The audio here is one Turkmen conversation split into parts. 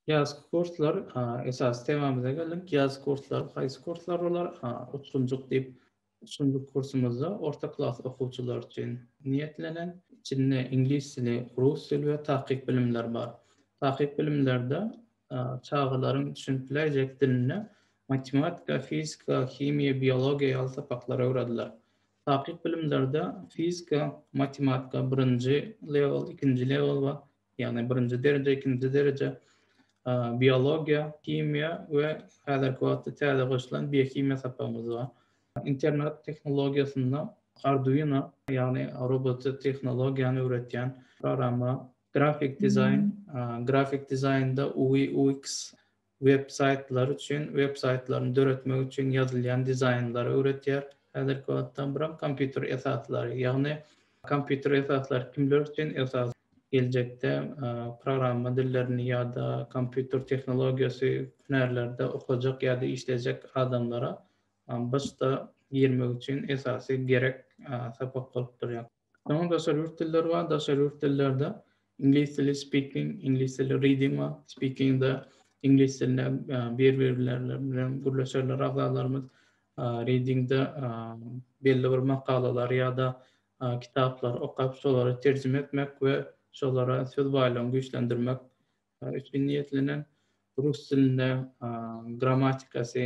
Ýazky kurslar, esasy temamyza geldik. Ýaz kurslary haýsy kurslar bolar? Utkunjyk diýip, üçünji kursumyzda orta klas okuwçylary üçin niýetlenen. Içinde iňlis dili, rus dili we takyk bilimler bar. Takyk bilimlerde çagalaryň düşünip biläýjek dilinde matematika, fizika, himiýa, biologiýa ýaly sapaklar öwrediler. Takyk bilimlerde fizika, matematika birinji level, ikinji level bar. Ýagny birinji dereje, ikinji dereje. Biologiýa, himiýa we häzirki wagtda täze goşulan biohimiýa sapagymyz bar. Internet tehnologiýasynda Arduino, ýagny robot tehnologiýany öwretýän programma, grafik dizaýn, grafik dizaýnda UI, UX, Web saýtlary üçin web saýtlaryny döretmek üçin ýazylýan dizaýnlary öwretýär. Häzirki wagtda buram kompýuter esaslary, ýagny kompýuter esaslary kimler üçin esas, geljekde programma dillerini ýa-da kompýuter tehnologiýasy hünärlerde okajak ýa-da işlejek adamlara BSD-a girmek üçin esasy gerek sapak bolup durýar. Soňra daşary ýurt dilleri bar. Daşary ýurt dillerde iňlis dili speaking, iňlis dili reading bar. Speaking-de iňlis dilinde bir-birleri bilen gürleşerler agzalarymyz. Reading-de belli bir makalalary ýa-da kitaplary okap, şolary terjime etmek we şolara söz baýlygyny güýçlendirmek Üçin niýetlenen rus dilinde grammatikasy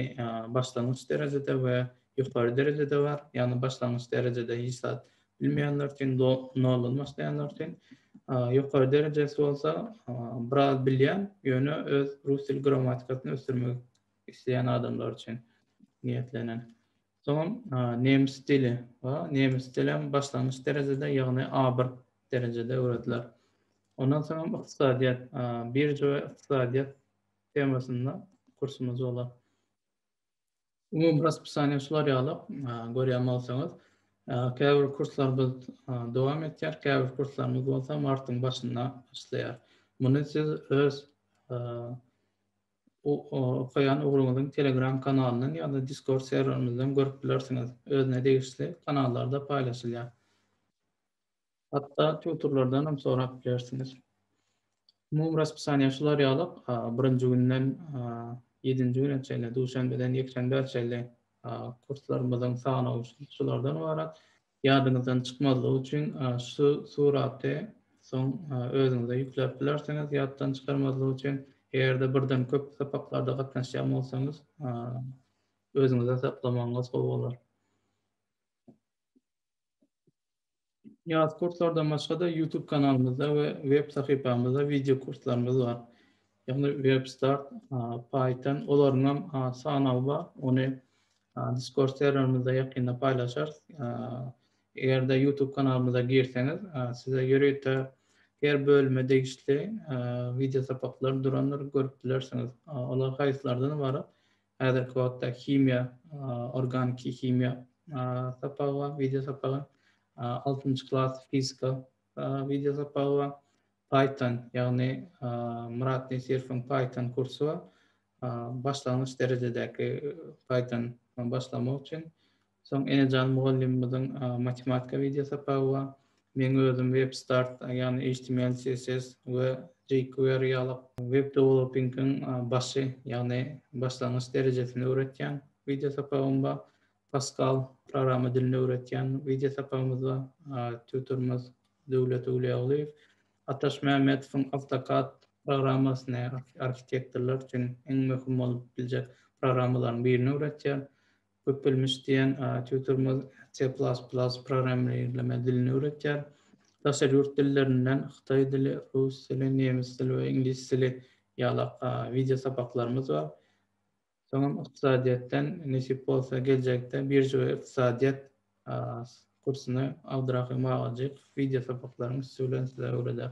başlangyç derejede we ýokary derejede bar. Ýagny başlangyç derejede hiç zat bilmeýänler üçin, noldan başlaýanlar üçin. Ýokary derejesi bolsa biraz bilýän, ýöne öz rus dil grammatikasyny ösdürmek isleýän adamlar üçin niýetlenen. Soňam nemes dili we nemes dilem başlangyç derejede, ýagny A1 derejede öwrediler. Ondan soňam ykdysadyýet, birja we ykdysadyýet temasynda kursumyz bolar. Umumy raspisaniýa şular ýaly, görýän bolsaňyz. Käbir kurslarymyz dowam etýär, käbir kurslarymyz bolsa martyň başynda başlaýar. Muny siz öz okaýan ugruňyzyň Telegram kanalyndan ýa-da Discord serwerimizden görüp bilersiňiz. Özüne degişli kanallarda paýlaşylýar. Hatda tutorlardan hem sorap bilersiňiz. Umumy raspisaniýa şular ýaly, birinji günden ýedinji güne çenli, duşenbeden ýekşenbä çenli kurslarymyzyň sanawy şulardan ybarat. Ýadyňyzdan çykmazlygy üçin şu suraty soň özüňize ýükläp bilersiňiz. Ýatdan çykarmazlyk üçin eger-de birden köp sapaklarda gatnaşýan bolsaňyz özüňize saklamagyňyz gowy bolar. Ýat kurslardan başga-da YouTube kanalymyzda we web sahypamyzda wideo kurslarymyz bar. Ýagny WebStart, Python, olaryň hem sanawy bar. Ony Discord serwerimizde ýakynda paýlaşarys. Eger-de YouTube kanalymyza girseňiz, size ýörite her bölüme degişli wideo sapaklar durandyr, görüp bilersiňiz. Olar haýsylardan ybarat? Häzirki wagtda himiýa, organiki himiýa sapagy bar, wideo sapagy. Altynjy klas fizika wideo sapagy bar. Python, ýagny Myrat Nesirowyň Python kursy bar. Başlangyç derejedäki Python başlamak üçin. Soň Enejan mugallymymyzyň matematika wideo sapagy bar. Meň özüm WebStart, ýagny html, css we jQuery ýaly web dewelopingiň başy, ýagny başlangyç derejesini öwretýän wideo sapagym bar. Pascal programma dilini öwretýän wideo sapagymyzda tutorymyz Döwlet Öwlüýaglyýew Ataş Mämmedowyň AutoCAD programmasyny arhitektorlar üçin iň möhüm bolup biljek programmalaryň birini öwretýär. Köpbilmiş diýen tutorymyz C++ programmirleme dilini öwretýär. Daşary ýurt dillerinden hytaý dili, rus dili, nemes dili we iňlis dili ýalak wideo sapaklarymyz bar. Soňam ykdysadyýetden nesip bolsa geljekde birža we ykdysadyýet kursuny Abdyrahym agajyk wideo sapaklaryň üsti bilen size öwreder.